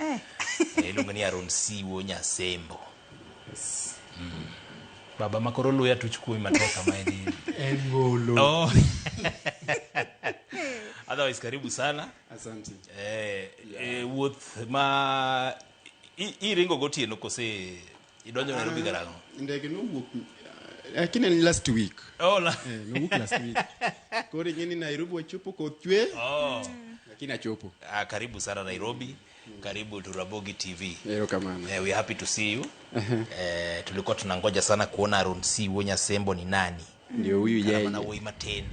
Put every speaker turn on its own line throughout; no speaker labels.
Eh. Eh, iluonge ni aron siwo nyasembo Mm. baba ma koro luya tuch kuomi matek kama en En golo. Oh. otherwise karibu sana Asante.
eh, eh,
wuoth ma i- iringo gotieno kose Idonjo Nairobi karang'o? Ndege nowuok
eh, lakini en last week. Oh, la. Eh, nowuok
last week.
Koro ing'e ni Nairobi wachopo koth chwe Oh. lakini
achopo.
Ah, karibu sana
Nairobi. Karibu to Rabogi TV. Erokamano. Eh, we are
happy to see you.
Eh, tulikuwa tunangoja sana kuona Aaron C. Wonya Sembo ni nani. Ndio huyu yeye. Kata
mana wuoyi matin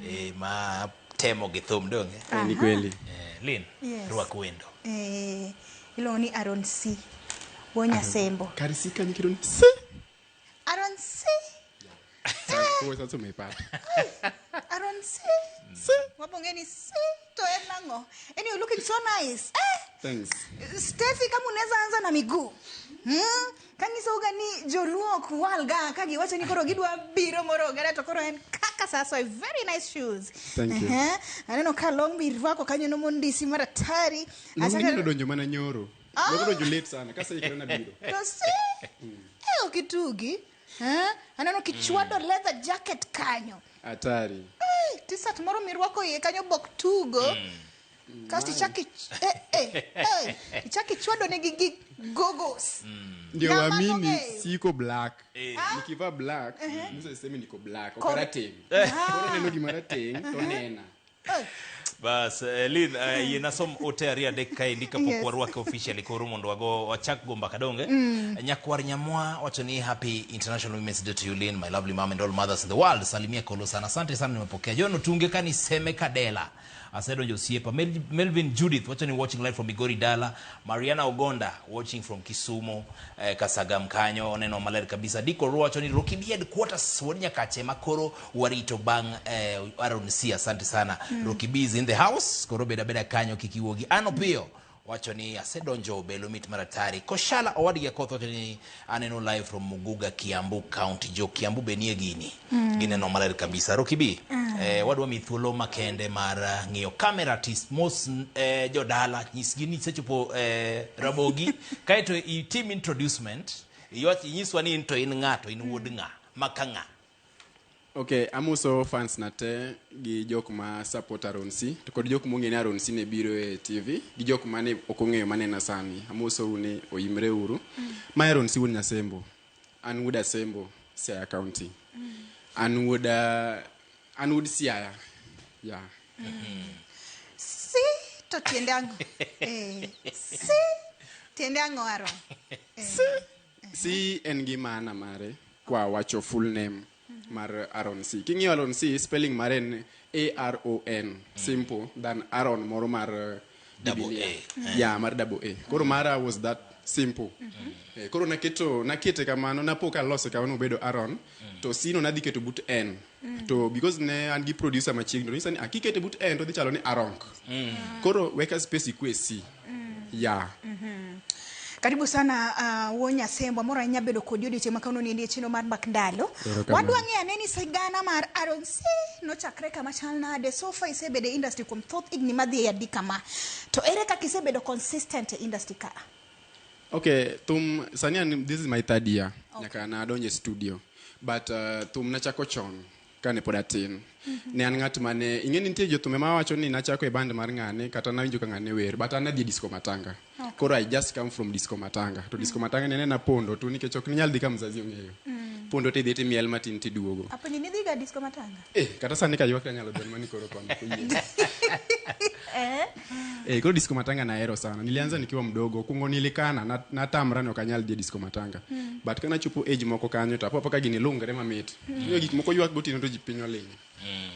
eh, ma temo gi thum donge. Eh, ni kweli. Eh,
Lin, Yes.
rwak wendo. Eh,
iluongo ni Aaron C. Wuo Nyasembo. Karisi kanyi kido ni
si. Aaron
C.
Kwa sasa umeipata. Aaron
C. C. Wabonge ni C. To en nango. And you're looking so nice. Eh, Thanks.
Steffi
kama unaweza anza na miguu. Hmm? Kanyisouga ni joluo ok walga ka giwacho ni koro gidwa biro moro ogada to koro en kaka sasoy very nice shoes Thank you. Ehe.
aneno ka long
mirwako kanyo nomo ndisi maratari Achaka- nodonjo
mana nyoro nodonjo late sana kaseikore nabiro to si
e ok itugi Eh, aneno kichwado leather jacket kanyo hatari
Ai, tisat
moro mirwako iye kanyo bok tugo kasto ichak ich- eh, eh, eh, ichak ichwado negi gi gogos ndio Nyama waamini
nong'eyo. siko black nikivaa black mtu aseme niko black Kor- okarateng koro neno gima rateng to nena
bas eh, lin eh, yie nasom ote ariyo adek kaendi kapok Yes. warwake officially koro mondo wago wachak go mbaka donge nyakwar nyamwa wacho ni happy international women's day to you lin my lovely mom and all mothers in the world salimia kolo sana asante sana nimepokea jono tunge kani seme kadela Asedonjo osiepa. Mel- Melvin Judith wacho ni watching live from Migori Dala. Mariana Ogonda watching from Kisumu eh, Kasagam kanyo oneno maler kabisa. Diko Ruo wacho ni Roki Bied quarters wuod Nyakache makoro warito bang eh, Aaron C asante sana. Roki B is in the house koro beda beda kanyo kik iwuogi. Ano piyo wacho ni asedonjo belo mit mar atari koshala owadgi akoth wacho ni aneno live from muguga kiambu county jo kiambu be nie gini mm. gineno maler kabisa rokibi mm. eh, wadwa mi thuolo makende mar eh, ng'iyo camera artist mos eh, jodala nyisgi ni sechopo eh, rabogi kaeto itim introducement iwach inyiswa ni into in ng'ato in wuod ng'a maka ng'a
Okay, amuso fans na te gi jok ma support Aron C to kod jok mong'e ni Aron C ne biro e TV gi jok mane ok ong'eyo manena sani. Amuso une oyimre uru. Mm. Ma Aron C wuod Nyasembo. An wuod Asembo, Siaya County. Mm. An wuod uh, an wuod Siaya. Yeah. Mm. Mm-hmm.
Si to tiende ang'o? eh, si tiende ang'o Aron? Eh. Si C
en gi maana mare kwa wacho full name mar Aaron C. King'iyo Aaron C, spelling mare en A R O N, simple than Aaron moro mar uh, Double
Biblia. A, eh. Yeah, mar
double A. Koro mara was that simple. Eh, Koro naketo nakete kamano napo kalose kamano obedo Aaron to C no nadhi keto but N. Mm. to because ne an gi producer machiegni to nyisa ni akikete but en to dhi chalo ni aronk mm. koro weka space ikwe e si mm. ya yeah. mm -hmm.
Karibu sana uh, Wonya Sembwa mora nya bedo kodi odi chema kano ni chino mar bak ndalo. Wadwa nge aneni sigana mar Aaron C no chakre kama chal na de so far ise bede industry kum thoth igni madhi ya dikama. To ere kaka ise bedo consistent e industry ka? Okay,
thum sani an this is my third year. Okay. Nyaka na adonje studio. But uh, thum nachako chon kane pod atin. Ne an ng'at mane ing'e ni nitie jothumbe ma wacho ni nachako e band mar ng'ane kata nawinjo ka ng'ane wer but an nadhi disco matanga. Koro I just come from disco matanga. To disco matanga ne nena pondo tu nikech ok ninyal dhi ka mzazi ong'eyo. Pondo tidhi timiel matin tiduogo. Apenjo ni dhiga disco
matanga? Eh, kata sani kaywak
to anyalo dwani mani koro koni koyie. Eh? Eh, koro disco matanga nahero sana. Nilianza nikiwa mdogo. Kungo nilikana na natamra ni okanyal dhi e disco matanga. Mm. But kana chopo age moko kanyo to apopo ka gini lungre mamit. Mm. Yo gik moko ywak gotieno to ji piny oling. Mm.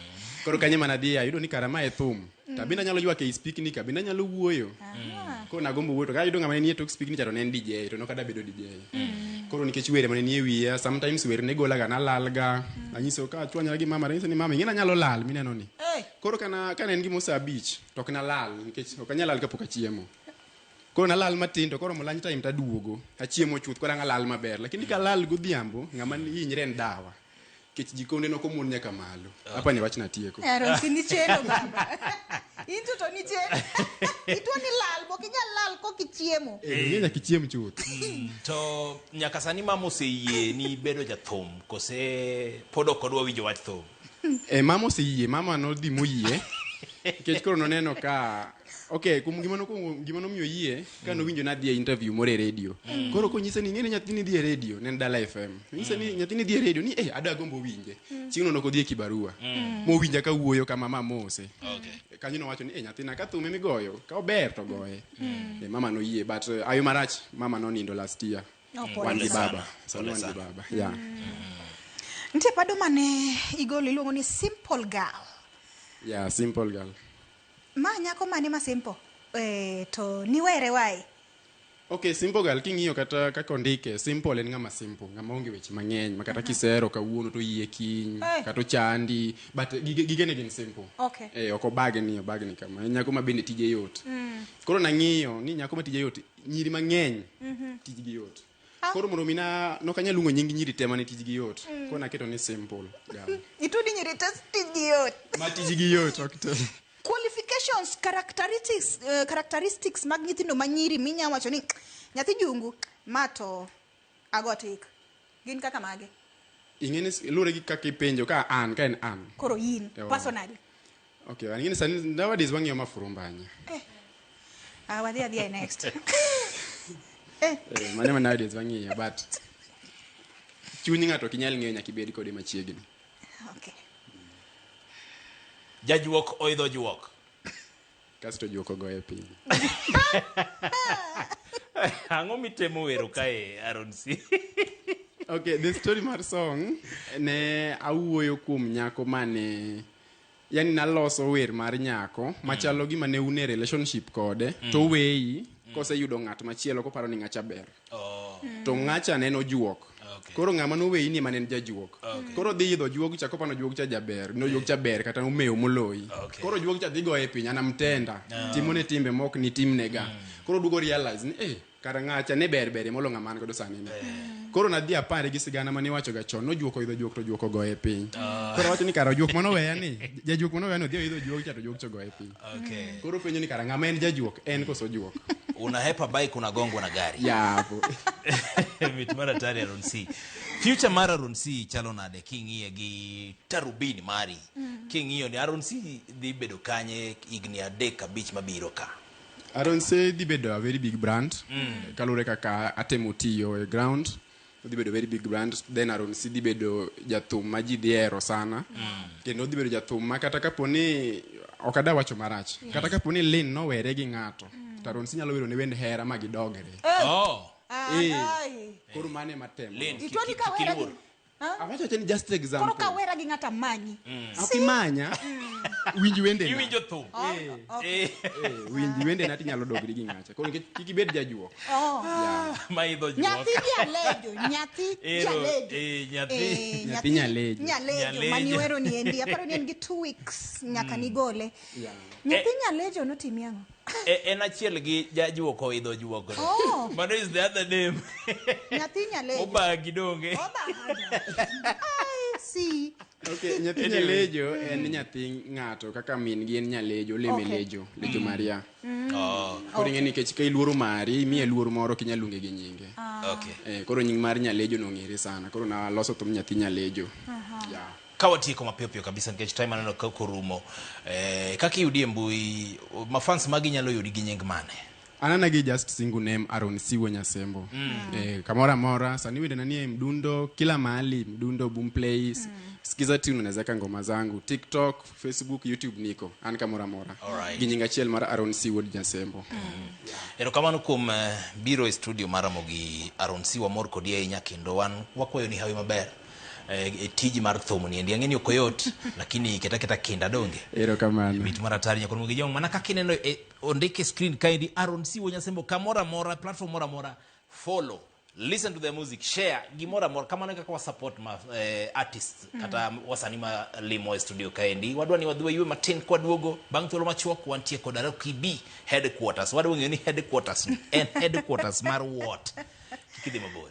Koro kanye mana dhi ayudo ni karama e thum. to abende anyalo ywak ei spikni ka bende anyalo wuoyo koro nagombo wuoyo to ka ayudo ng'ama ne nie tok spikni cha to ne en DJ to nok ada bedo DJ koro nikech were mane nie wiya sometimes wer ne golaga nalalga anyiso ka achwanyra gi mama tanyiso ni mama ing'e nanyalo lal mineno ni koro kana kana en gimo saa abich to ok nalal nikech ok anyal lal kapok achiemo koro nalal matin to koro mo lunch time taduogo achiemo chuth koro ang' alal maber lakini kalal godhiambo ng'ama hinyre en dawa kech jikonde noko mon nyaka malo hapa ni wachna tieko Aaron, si nichelo baba.
Into to nichelo. Itwo ni lal, bok inyal lal kok ichiemo. Eh, ing'e nyaka ichiem
chuth to
nyaka sani mama oseyie ni bedo jathum kose pod ok odwa winjo wach thum Eh, mama oseyie
mama nodhi moyie nikech koro noneno ka Okay, kum gima nokuongo gima nomiyo yie ka nowinjo nadhi e interview moro e radio. Mm. Koro konyisa ni ng'e ni nyathini dhi e radio, ne en Dala FM. Nyisa ni mm. nyathini dhi e radio ni eh ada gombo winje. Mm. Chieng' no nokodhi e kibarua. Mm. Mowinja ka wuoyo kama mama mose. Okay. Kanyo nowacho ni eh nyathina ka thume migoyo, ka ober to goye. Mm. E, mama noyie but uh, ayo marach mama nonindo last year. No, mm. wan gi baba. So wan gi baba. Yeah. Mm.
Ntie pado mane igolo iluongo ni simple girl. Yeah,
simple girl. Ma nyako
mane ma simple? Eh, to niwere wae. Okay,
simple girl king'iyo kata kaka ondike, simple en ng'ama simple, ng'ama onge weche mang'eny, ma kata kisero kawuono to yie kiny, Eh. kata ochandi, but gige gigene gin simple. Okay. Eh, ok obage
ni obage
ni kama. En nyako ma bende tije yot. Koro nang'iyo ni nyako ma tije yot, nyiri mang'eny tijgi yot. koro mondo mi na nok anyal luongo nying nyiri te mane tijgi yot koro naketo ni simple girl itudi nyiri te
tijgi yot ma tijgi yot
ok te qualifications
characteristics, uh, characteristics mag nyithindo ma nyiri minya wacho ni nyathi jungu ma to agotik gin kaka mage ing'eni
luwore gi kaka ipenjo ka an ka en an koro in
Ewa. personally Okay, wang'ini
sani nowadays wang'iyo mafurumbanya.
Ah, wadhi adhiya next. Eh, Eh,
mane ma nowadays wang'iyo but chuny ng'ato ok inyal ng'eyo nyaka ibed kode machiegni.
okay.
Jajuok oidho juok. Kasto
juok ogoye piny.
Ang'o mitemo wero kae Aaron C? Okay,
the story mar song ne awuoyo kuom nyako mane yani naloso wer mar nyako mm. machalo gima ne une relationship kode mm. to weyi mm. koseyudo ng'at machielo koparo ni ng'acha ber oh. mm. to ng'acha ne nojuok okay. koro ng'ama noweyi ni mane en jajuok okay. koro dhi idho juog cha kopano juog cha jaber no juog cha ber kata omewo moloyi okay. koro juog cha dhi goye piny anamtenda no. Ah. timone timbe mok ni timnega mm. koro dugo realize ni eh Kara ng'acha ne ber berie molo ng'ama an godo sani ni. Koro nadhi apare gi sigana mane iwachoga chon, nojuok oidho juok to juok ogoye piny. Koro awacho ni kara ojuok mane oweya ni, jajuok mane oweya ni odhi oidho juok cha to juok cha ogoye piny. Okay. Koro openjo ni
kara ng'ama en
jajuok, en koso ojuok? Unahepa bike
unagongwa na gari. Yapo. Mit mar atari Aaron C. Future mar Aaron C chalo nade king'iye gi tarubini mari? King'iyo ni Aaron C dhi bedo kanye higni adek abich mabiro ka? Aronse
dhi bedo a very big brand mm. kaluwore kaka atemo tiyo e ground odhi bedo very big brand then Aronse dhi bedo jathum ma ji dhi hero sana mm. kendo odhi bedo jathum ma kata kapo ni ok ada wacho marach yes. kata kapo ni Lin nowere gi ng'ato mm. to Aronse nyalo wero ne wend hera ma gidogre oh. oh. eh. koro mane matemo Lin,
Awacho acha ni
just Koro example. ka wera gi ng'ata
manyi. Ok imanya.
Winj wende. na. Iwinjo thum. Oh, Eh. okay.
Eh. Eh,
Winj wende na tinyalo dogri gi ng'acha. Koro nikech kik ibed jajuo. Oh.
Maidho juok. Nyathi jalejo,
nyathi Ero, jalejo. eh, nyathi. Eh, Nyathi nyalejo. Nyalejo, Nyalejo. mani wero ni endi. Aparo ni en gi two weeks nyaka nigole. Yeah. Nyathi nyalejo notimi ang'o? E- en achiel
gi jajuok oidho juok no. Oh. mano is the other name Nyathi nyalejo.
obagi donge
I
see. Okay, nyathi Anyway.
nyalejo en nyathi ng'ato kaka min gi en nyalejo oleme Okay. lejo lejo maria Oh. koro ing'e nikech ka iluoro mari imiye luor moro ok inyal luonge gi nyinge Okay. Eh, koro
nying mar nyalejo
nong'ere sana koro naloso thum nyathi nyalejo Yeah. ka watieko mapiyo
piyo kabisa nikech time aneno ka korumo eh, kaka iyudi e mbui mafans magi nyalo yudi gi nying mane anana
gi just single name aron siwo nyasembo mm. eh, kamora mora sani wende nanie mdundo kila mahali mdundo boom plays mm. skiza tune unaweza ka ngoma zangu tiktok facebook youtube niko an kamora mora Alright. gi nying achiel mar
aron
siwo nyasembo mm. erokamano
kuom uh, biro e studio mara mogi aron siwa mor kodi ahinya kendo wan wakwayo ni hawi maber eh, eh, tiji mar thum ni endi ang'e ni ok oyot lakini keta keta kinda donge erokamano bit mar
atari nyakoro mogi
jong mana kaka ineno eh, ondik e screen kaendi aron siwo nyasembo kamoro amora platform moro amora follow listen to the music share gimoro amora kamano e kaka wasupport ma eh, artists kata wasani ma limo e studio kaendi wadwa ni wadhi waywe matin kwaduogo bang' thuolo machuok wantie kod aroki b headquarters wadwa ng'eyo ni headquarters ni en headquarters mar what kik idhi mabor